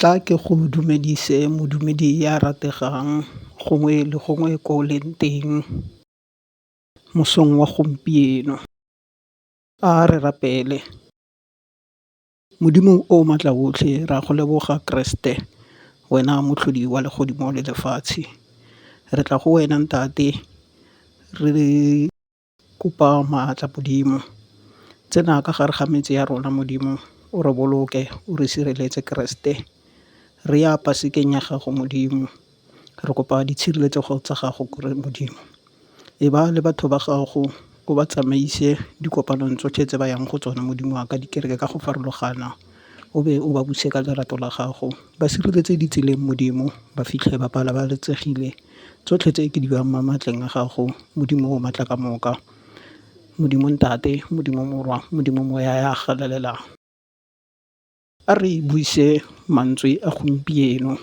Tla ke go dumedise modumedi ya rategang gongwe le gongwe ko o leng teng mosong wa gompieno a re rapele. Modimo o o Maatla Otlhe, re a go leboga Keresete, wena Motlhodi wa legodimo le lefatshe. Re tla go wena Ntate re kopa maatla Modimo. Tsena ka gare ga metse ya rona Modimo, o re boloke, o re sireletse Keresete. Re ya pasekeng ya gago Modimo. re kopa ditshireletsego tsa gago gore Modimo e ba le batho ba gago o ba tsamaise dikopanong tsotlhe tse ba yang go tsona Modimo wa ka dikereke ka go farologana o be o ba buse ka lerato la gago ba sireletse ditseleng Modimo ba fitlhe ba babalesegile tsotlhe tse ke di bang mo maatleng a gago Modimo o maatla ka moka. Modimo Ntate, Modimo Morwa, Modimo Moya ya galelang a re buise mantswe a gompieno.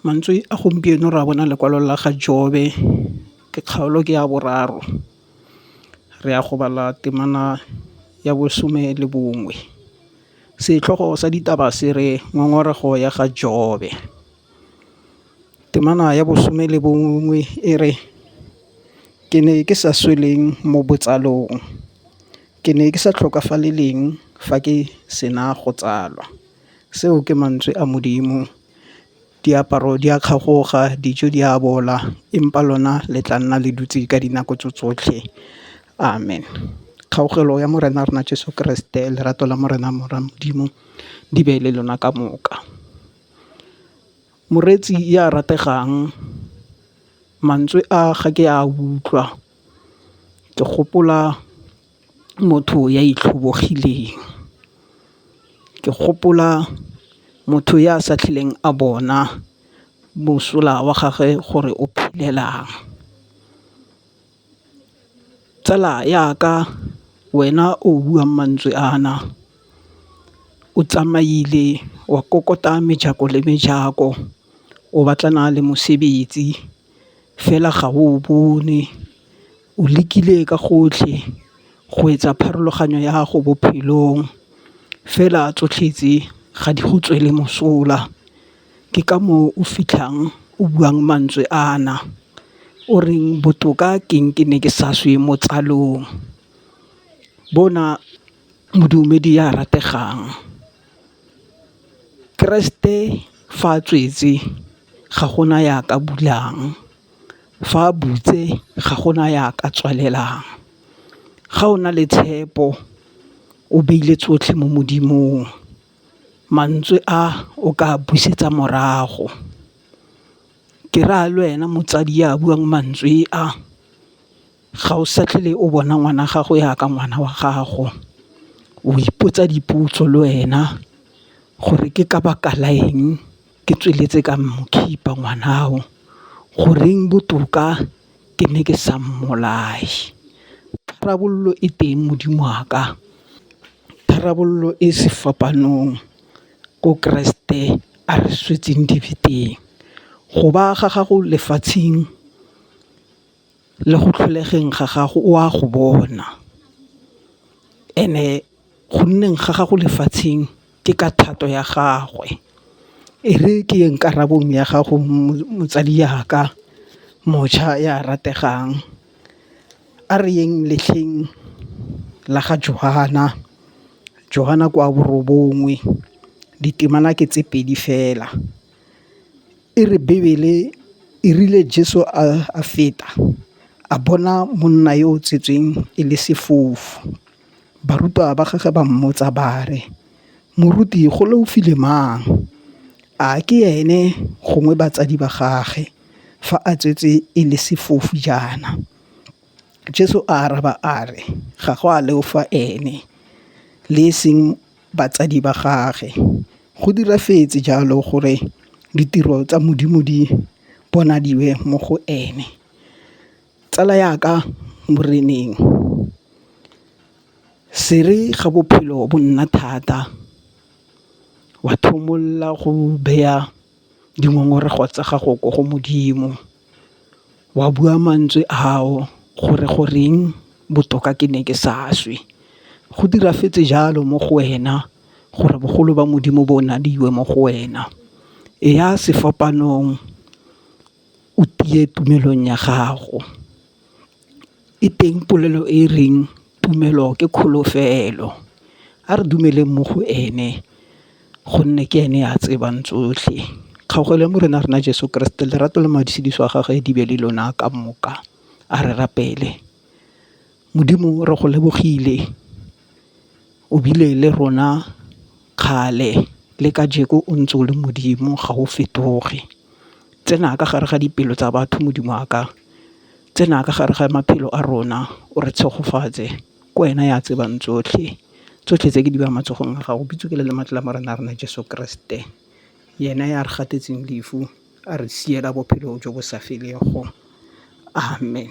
Mantswe a gompieno re a bona lekwalo la ga Jobe ke kgaolo ke ya boraro re ya go bala temana ya bosome le bongwe setlhogo sa ditaba se re ngongorego ya ga Jobe. Temana ya bosome le bongwe e re ke ne ke sa sweleng mo botsalong ke ne ke sa tlhokafaleleng fa ke sena go tsalwa. Seo ke mantswe a Modimo. Diaparo di a kgagoga, dijo di a bola, empa lona le tla nna le dutse ka dinako tso tsotlhe. Amen. Kgaogelo ya Morena wa rona Jesu Keresete, lerato la Morena Mora Modimo di be le lona ka moka. Moreetsi ya rategang mantswe a ga ke a utlwa ke gopola. motho ya itlhobogileng. Ke gopola motho ya sa tlholeng a bona mosola wa gagwe gore o phelelang. Tsala ya ka wena o buang mantswe a na o tsamaile wa kokota mejako le mejako o batlana le mosebetsi fela ga o bone. O lekile ka gotlhe go etsa pharologanyo ya gago bophelong fela tsotlhe tse ga di go tswele mosola. Ke ka moo o fitlhang o buang mantswe a na o reng botoka ke eng ke ne ke sa swe mo tsalong. Bona modumedi ya rategang, keresete fa a tswetse ga gona ya ka bulang. Fa a butse ga go na ya ka tswalelang, ga o na le tshepo o beile tsotlhe mo Modimong mantswe a o ka busetsa morago. Ke raya le wena motsadi ya buang mantswe a ga o sa tlhole o bona ngwana gago ya ka ngwana wa gago, o ipotsa dipotso le wena gore ke ka baka la eng ke tsweletse ka mokhipa ngwana'o, goreng botoka ke ne ke sa mmolaye? Tharabololo e teng Modimo wa ka, tharabololo e sefapanong ko Keresete a re swetseng dibe teng, go ba ga gago lefatsheng. le go tlholegeng ga gago o a go bona and-e go nneng ga gago lefatsheng ke ka thato ya gagwe, e re ke yeng karabong ya gago motsadi yaka mošwa ya rategang, a re yeng letlheng la ga Johan-a, Johan-a ke wa borobongwe ditemana ke tse pedi fela. E re Bibele e rile Jesu a feta a bona monna yo o tsetsweng e le sefofu, barutwa ba gagwe ba mmotsa ba re, Moruti go leofile mang? A ke ene gongwe batsadi ba gagwe fa a tswetse e le sefofu jaana? Jesu a araba a re, ga go a leofa ene le e seng batsadi ba gage. Go diragetse jalo gore ditiro tsa Modimo di bonadiwe mo go ene. Tsala ya ka moreneng se re ga bophelo bo nna thata wa go beya dingongorego tsa gago ko go Modimo, wa bua mantswe ao gore goreng botoka ke ne ke sa swe. Go diragetse jalo mo go wena gore bogolo ba Modimo bo ngwadiwe mo go wena. E ya sefapanong o tiye tumelong ya gago. E teng polelo e reng tumelo ke kholofelo a re dumeleng mo go ene gonne ke ene a tsebang tsotlhe. Kgaogelo ya Morena rona Jeso Keresete lerato le madusidiso a gagwe di be le lona ka moka a re rapele. Modimo re go lebogile. o bile le rona kgale le kajeko o ntse o le Modimo ga o fetoge. Tsena ka gare ga dipelo tsa batho Modimo wa ka, tsena ka gare ga maphelo a rona o re tshegofatse ke wena ya tsebang tsotlhe. Tsotlhe tse ke di beya matsogong a gago bitso ke le lematla la Morena wa rona Jeso Keresete yena ya re gatetseng lefu a re siela bophelo jo bo sa feleng go amen.